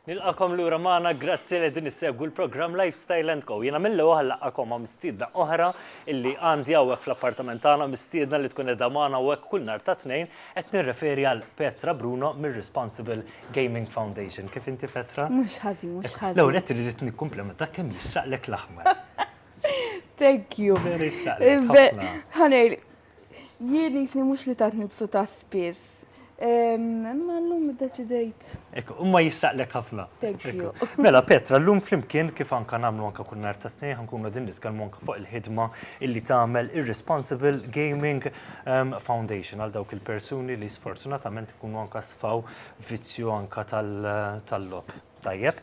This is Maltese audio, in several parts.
Nilqakom lura magħna, grazzi li din issegwu l-programm Lifestyle and Co. Jiena mill oħ laqakom ma' mistiedna oħra illi għandi hawnhekk fl-appartament tagħna mistiedna li tkun edha magħna hawnhekk kull nhar ta' Tnejn qed nirreferi għal Petra Bruno mir-Responsible Gaming Foundation. Kif inti Petra? Mhux ħażin, mhux ħażin. L-ewwel qed irrid nikkumplementa kemm jixraqlek l-aħmar. Thank you. Vera jixraqlek. Ħanejl, Jien jisni mhux li tant nibsuta spiss. Imma llum iddeċidejt. Ekk, imma jistaqlek ħafna. Thank you. Mela Petra, llum flimkien kif anka nagħmlu anka kull nhar ta' Tnejn ħankunu qegħdin nitkellmu anka fuq il-ħidma illi tagħmel ir-Responsible Gaming Foundation għal dawk il-persuni li sfortunatament ikunu anka sfaw vizzju anka tal-logħob tajjeb.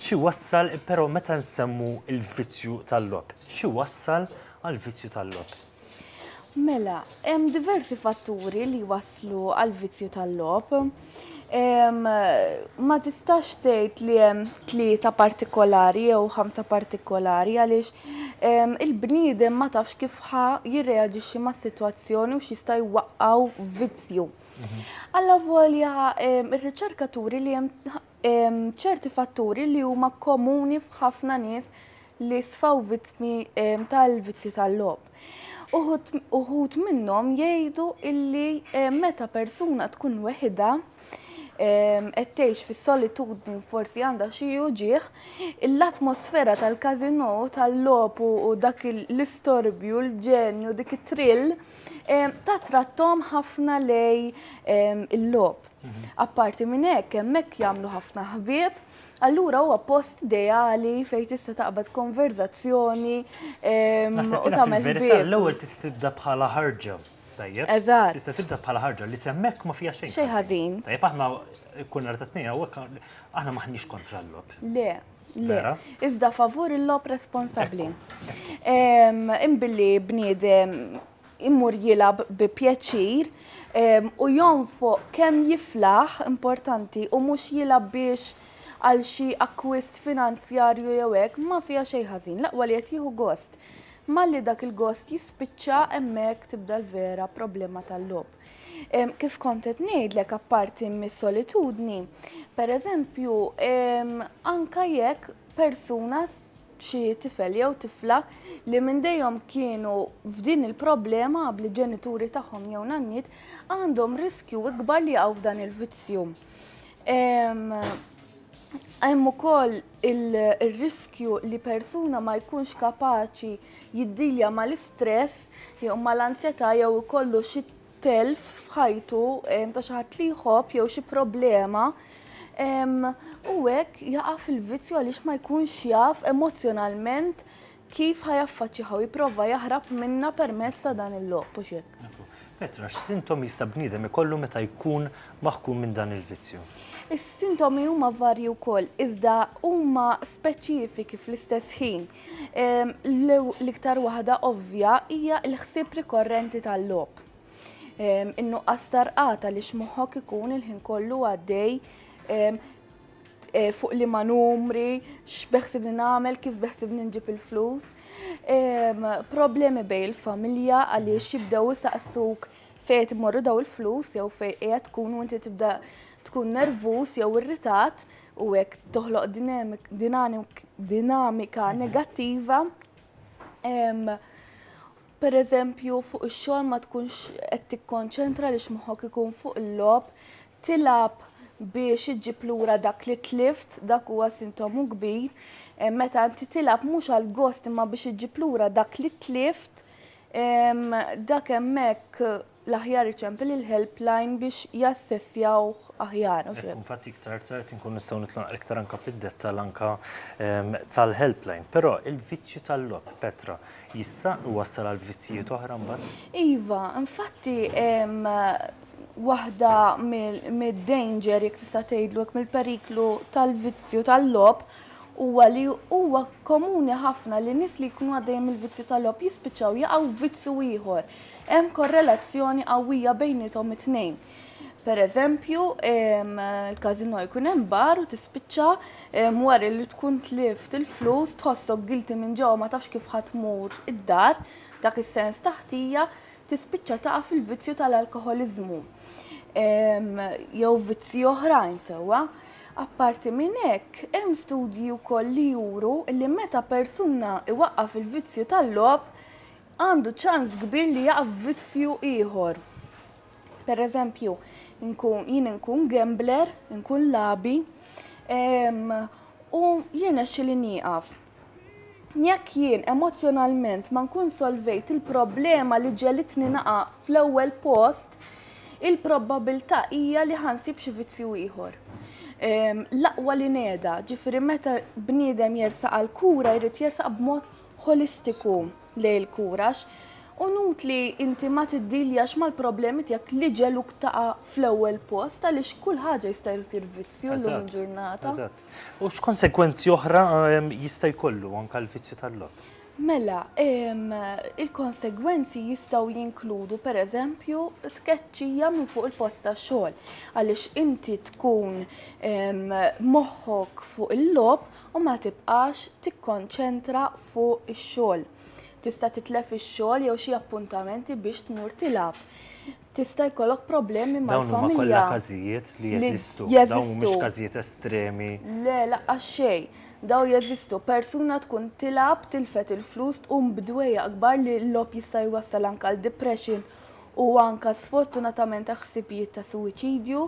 X'iwassal però meta nsemmu l-vizzju tal-logħob? X'iwassal għall-vizzju tal-logħob? Mela, hemm diversi fatturi li jwasslu għall-vizzju tal-logħob. Ma tistax tgħid li hemm tlieta partikolari jew ħamsa partikolari għaliex il-bniedem ma tafx kif ħa jirreaġixxi mas-sitwazzjoni u x'jista' jwaqqgħu vizzju. Alla volja r-riċerkaturi li hemm ċerti fatturi li huma komuni f'ħafna nies li sfaw vittmi tal-vizzju tal-logħob. Uħut minnhom jgħidu illi meta persuna tkun weħida qed tgħix fis-solitudni forsi għandha xi uġieħ, l-atmosfera tal-kazino tal-logħob u dak l-istorbju, l-ġenju, dik it-trill ta' trattom ħafna lej il-logħob. Apparti minn hekk, hemmhekk jagħmlu ħafna ħbieb, allura huwa post ideali fejn tista' taqbad konverżazzjoni ehm, u tagħmel ħbieb. L-ewwel tista' tibda bħala ħarġa. Tajjeb. Eżatt. Tista' tibda bħala ħarġa li semmek ma fija xejn. Xejn ħażin. Tajjeb aħna kun nhar tat-tnejn hawnhekk aħna maħniex kontra l-lob. Le, Le, iżda favur il-lob responsabli. Imbilli bniedem imur jilab bi pjaċir u jonfoq kemm jiflaħ importanti u mhux jilab biex għal xi akkwist finanzjarju jew hekk ma fiha xejn ħażin, l-aqwa li qed jieħu gost. Malli dak il-gost jispiċċa hemmhekk tibda l-vera problema tal-logħob. Kif kont qed ngħidlek apparti mis-solitudni, pereżempju anke jekk persuna xi tifel jew tifla li minn dejjem kienu f'din il-problema bli ġenituri tagħhom jew nanniet għandhom riskju ikbar li jaqgħu f'dan il-vizzju. Hemm ukoll ir-riskju li persuna ma jkunx kapaċi jiddilja mal-istress jew mal-anzjetà jew ikollu xi telf f'ħajtu ta' xi ħadd li jħobb jew xi problema u hekk jaqa' fil-vizzju għaliex ma jkunx jaf emozzjonalment kif ħajaffaċċjaha u jipprova jaħrab minnha permezz ta' dan il-logħob u x'hekk. Petra, x'sintomi jista' bniedem ikollu meta jkun maħkum minn dan il-vizzju? Is-sintomi huma varji wkoll, iżda huma speċifiki fl-istess ħin. L-iktar waħda ovvja hija l-ħsieb rikorrenti tal-logħob. In-nuqqas tarqata li x'moħħok ikun il-ħin kollu għaddej Eh, fuq li ma numri, x'beħsib li nagħmel, kif beħsib ninġib il-flus. Problemi bej il-familja għaliex jibdew saqsuk fejn morru daw il-flus jew fejn qiegħed tkun u inti tibda tkun nervus jew irritat. u hekk toħloq dinamika negattiva pereżempju fuq ix-xogħol ma tkunx qed tikkonċentra li x'moħħok ikun fuq il-logħob, tilgħab biex iġġib lura dak li tlift, dak huwa sintomu kbir. Meta inti tilgħab mhux għal gost imma biex iġġib lura dak li tlift, dak hemmhekk l-aħjar iċempel il-helpline biex jassessjawh aħjar. Hekk, infatti, iktar tard inkun nistgħu nidħlu naqra iktar anke fid-dettall anke tal-helpline. Però il-vizzju tal-logħob, Petra, jista' iwassal għal vizzjijiet oħra mbagħad? Iva, infatti waħda mid-danger, jekk tista' tgħidlu hekk, mill-periklu tal-vizzju tal-logħob huwa li huwa komuni ħafna li nies li jkunu għaddejjin mill-vizzju tal-logħob jispiċċaw jaqgħu f'vizzju ieħor. Hemm korrelazzjoni qawwija bejniethom it-tnejn. Per eżempju, l-każinò jkun hemm bar u tispiċċa wara li tkun tlift il-flus tħossok guilty minn ġewwa ma tafx kif ħa tmur id-dar, dak is-sens ta' ħtija, tispiċċa taqa' fil-vizzju tal-alkoħoliżmu jew vizzji oħrajn sewwa. Apparti minn hekk, hemm studji wkoll li juru li meta persuna iwaqqaf il-vizzju tal-logħob, għandu ċans kbir li jaqa' f'vizzju ieħor. Per eżempju, jien inkun gambler, inkun labi, ehm, u jirnexxi li nieqaf. Jekk jien emozjonalment ma nkun solvejt il-problema li ġelitni naqa' fl-ewwel post, il-probabilità hija li ħansib xi vizzju ieħor. Ehm, l-aqwa li neda, ġifieri meta bniedem jersaq għal kura jrid jersaq b'mod ħolistiku lejn il-kura għax hu nut li inti ma tiddiljax mal-problemi tiegħek li ġegħluk taqa' fl-ewwel post għaliex kull ħaġa jista' jsir vizzju llum Eżatt, il-ġurnata. eżatt. U x'konsegwenzi oħra ehm, jista' jkollu anke l-vizzju tal-logħob? Mela, ehm, il-konsegwenzi jistgħu jinkludu pereżempju tkeċċija minn fuq il-post tax-xogħol għaliex inti tkun ehm, moħħok fuq il-logħob u ma tibqax tikkonċentra fuq ix-xogħol. Tista' titlef ix-xogħol jew xi appuntamenti biex tmur tilgħab. Tista' jkollok problemi mal-familja. Dawn huma kollha każijiet li jeżistu. Dawn mhumiex każijiet estremi. Le, laqqas xejn. Dawn jeżistu. Persuna tkun tilgħab, tilfet il-flus, tqum b'dwejjaq kbar li l-logħob jista' jwassal anke għal depression u anke sfortunatament għal ħsibijiet ta' suwiċidju.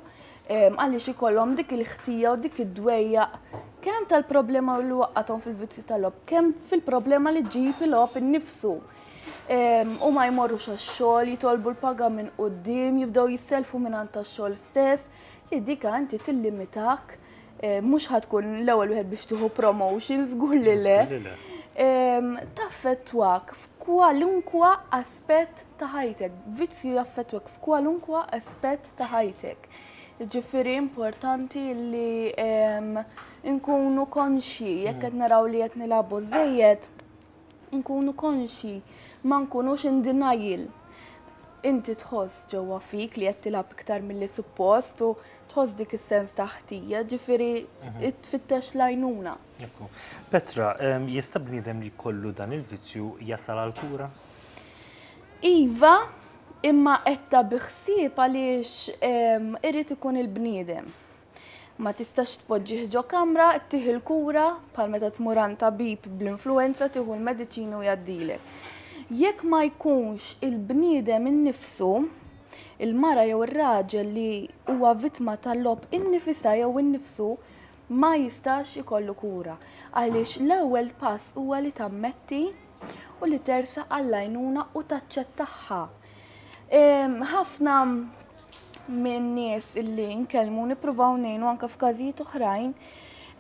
għaliex ikollhom dik il-ħtija u dik id-dwejjaq kemm tal-problema li waqqathom fil-vizzju tal-lob, kemm fil-problema li ġib il-lob innifsu. U ma jmorrux għax-xogħol, jitolbu l-paga minn qudiem, jibdew jisselfu minn għand tax-xogħol stess, li dika inti tillimitak, eh, mhux ħatkun l-ewwel wieħed biex tieħu promotion, żgur li le. Taffettwak f'kwalunkwa aspett aspett ta' ħajtek. Vizzju jaffettwak f'kwalunkwa aspett ta' ħajtek. Ġifiri importanti li nkunu konxi, jekk qed naraw li qed nilabu żejjed, nkunu konxi, ma nkunux in denial. Inti tħoss ġewwa fik li qed tilab iktar milli suppost u tħoss dik is-sens ta' ħtija, ġifiri tfittex l-għajnuna. Petra, jista' bniedem li jkollu dan il-vizzju jasal għall-kura? Iva, imma qedta bi ħsieb għaliex irid ikun il-bniedem. Ma tistax tpoġġih ġo kamra, tih il-kura bħal meta tmur għand tabib bl-influenza tieħu l-mediċini u jgħaddilek. Jekk ma jkunx il-bniedem innifsu, il-mara jew ir-raġel li huwa vittma tal-logħob innifisha jew innifsu ma jistax ikollu kura. Għaliex l-ewwel pass huwa li tammetti u li tersaq għall-għajnuna u taċċettagħha. Ħafna minn nies illi nkellmu nippruvaw ngħinu anke f'każijiet oħrajn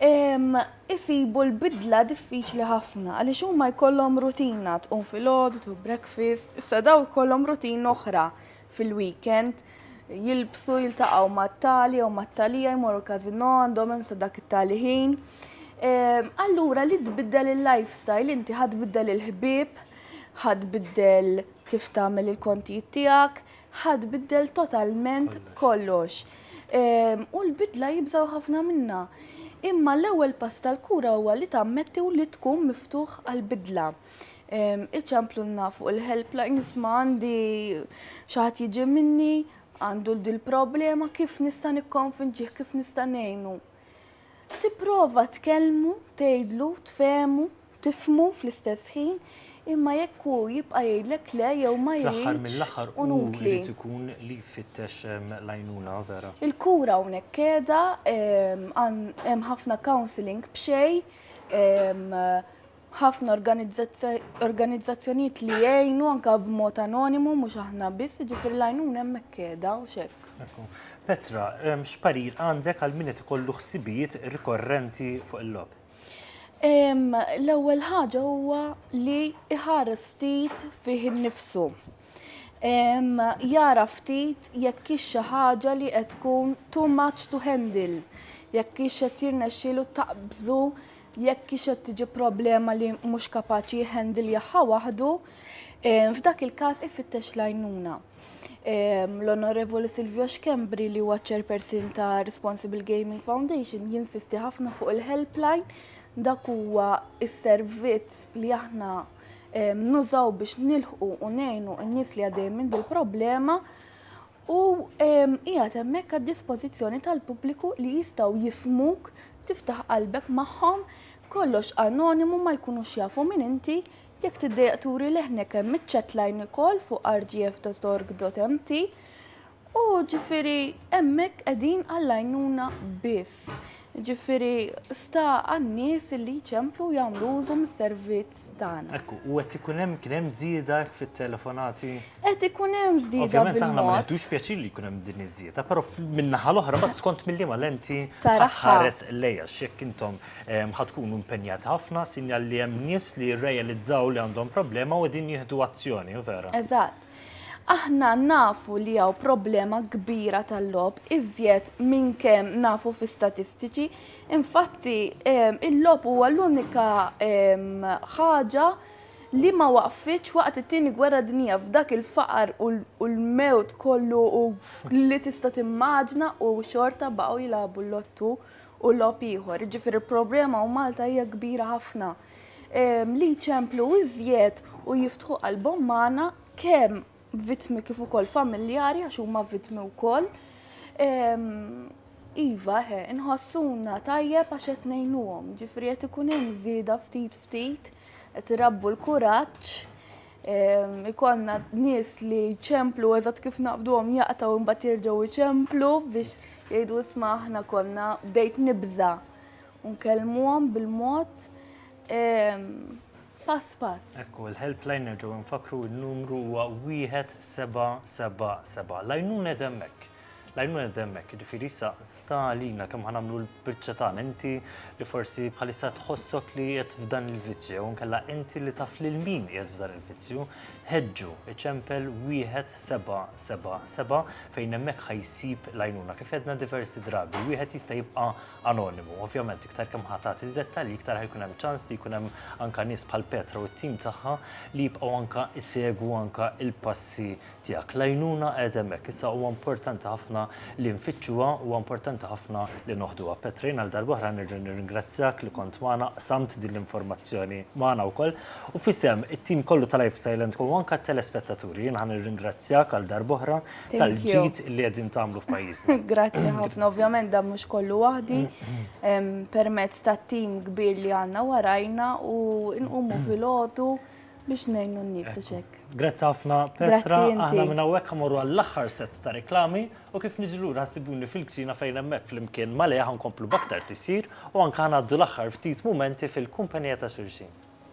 isibu l-bidla diffiċli ħafna għaliex huma jkollhom rutina tqum filgħodu tu breakfast, issa daw ikollhom rutin oħra fil-weekend, jilbsu, jiltaqgħu mat-tali jew mat-talija, jmorru każinò, għandhom hemm sa dak it-tali ħin. Ehm, allura li tbiddel il-lifestyle inti ħadd biddel il-ħbieb, ħadd biddel kif tagħmel il-kontijiet tiegħek, ħadd biddel totalment kollox. Ehm, u l-bidla jibżaw ħafna minna. Imma l-ewwel pass tal-kura huwa li tammetti u li tkun miftuħ għal bidla. Iċemplulna fuq il-helpline ma għandi xaħat jiġi minni, għandu l-dil problema kif nista' nikkonfinġih, kif nista' ngħinu. Tipprova tkellmu, tgħidlu, tfehmu, tifmu fl-istess ħin, imma jekk hu jibqa' jgħidlek le jew ma jgħidx. mill-aħħar u jrid ikun li jfittex l-għajnuna vera. Il-kura hawnhekk qiegħda hemm ħafna counselling b'xejn ħafna organizzazzjonijiet li jgħinu anke b'mod anonimu mhux aħna biss, jiġifieri l-għajnuna hemmhekk qiegħda u x'hekk. Petra, x'parir għandek għal min qed ikollu ħsibijiet rikorrenti fuq il-logħob? L-ewwel ħaġa huwa li iħares ftit fih innifsu. Jara ftit jekk hix xi ħaġa li qed tkun too much to handle, jekk hix qed jirnexxielu taqbżu jekk hix qed tiġi problema li mhux kapaċi jħendiljaha waħdu, f'dak il-każ ifittex l-għajnuna. L-Onorevoli Silvio Schembri li huwa chairperson ta' Responsible Gaming Foundation jinsisti ħafna fuq il-helpline dak huwa s-servizz li aħna nużaw biex nilħqu u ngħinu n-nies li għaddej minn dil-problema u qiegħed hemmhekk għad-dispożizzjoni tal-pubbliku li jistgħu jifhmuk, tiftaħ qalbek magħhom, kollox anonimu ma jkunux jafu min inti, jekk tiddejjaq turi leħnek hemm iċ-chat line ukoll fuq rgf.org.mt u ġifieri hemmhekk qegħdin għall-għajnuna biss. Ġifieri sta għan-nies li jċemplu jagħmlu użu mis-servizz. tagħna. Ekku, u qed ikun hemm kien hemm żieda fit-telefonati. Qed ikun hemm żieda. Ovvjament aħna ma neħdux pjaċir li jkun hemm din iż-żieda, però min-naħa l-oħra ma skont milli ma lenti ħares lejja x'jekk intom ehm, ħad tkunu impenjat ħafna sinjal li hemm nies li jirrealizzaw li għandhom problema u din jieħdu azzjoni, vera. Eżatt. Aħna nafu li hawn problema kbira tal-lob iżjed minn kemm nafu fi statistiċi Infatti, il-logħob huwa l-unika ħaġa li ma waqfitx waqt it-Tieni Gwerra Dinjija f'dak il-faqar u l-mewt kollu li tista' timmaġna u xorta baqgħu jilagħbu l-lottu u logħob ieħor. Jiġifieri l-problema u Malta hija kbira ħafna. Li jċemplu iżjed u jiftħu qalbhom magħna kemm vittmi kif ukoll familjari għax huma vittmi wkoll. Iva, he, inħossuna tajjeb għax qed ngħinuhom, ġifri qed ikun hemm żieda ftit ftit, qed irabbu l-kuraġġ, ikonna nies li ċemplu eżatt kif naqbduhom jaqtaw imbagħad jerġgħu jċemplu biex jgħidu isma' aħna konna bdejt nibża' u nkellmuhom bil-mod. pass pass. Hekk hu, il-helpline nerġgħu nfakkru n-numru huwa wieħed seba' seba' seba'. L-għajnuna qed hemmhekk. L-għajnuna qed hemmhekk, jiġifieri issa sta għalina kemm ħa nagħmlu l-biċċa tagħna. Inti li forsi bħalissa tħossok li qiegħed f'dan il-vizzju jew inkella inti li taf lil min qiegħed f'dan il-vizzju, ħeġġu, iċempel wieħed seba' seba' seba' fejn hemmhekk ħa jsib l-għajnuna. Kif għedna diversi drabi, wieħed jista' jibqa' anonimu. Ovvjament iktar kemm ħa tagħti dettalji iktar ħajkun hemm ċans li jkun hemm anka nies bħal Petra u t-tim tagħha li jibqgħu anka jsegwu anka l-passi tiegħek. L-għajnuna qiegħda hemmhekk. Issa huwa importanti ħafna li nfittxuha, huwa importanti ħafna li noħduha. Petra jien għal darb'oħra nerġa' nirringrazzjak li kont magħna, qsamt din l-informazzjoni magħna wkoll u f'isem it-tim kollu ta' Life Silent Co u anka t-telespettaturi jien ħa nirringrazzjak għal darb'oħra tal-ġid li qegħdin tagħmlu f'pajjiżna. Grazzi ħafna, ovvjament dan mhux kollu waħdi permezz ta' tim kbir li għandna warajna u nqumu fil-ħotu biex ngħinu n-nies u xek. Grazzi ħafna Petra, aħna minn hawnhekk ħamorru għall-aħħar set ta' reklami u kif niġi lura ħassibuni fil-kċina fejn hemmhekk flimkien ma' Lea ħankomplu b'aktar tisir u anke ħanaddu l-aħħar ftit mumenti fil-kumpanija ta' xulxin.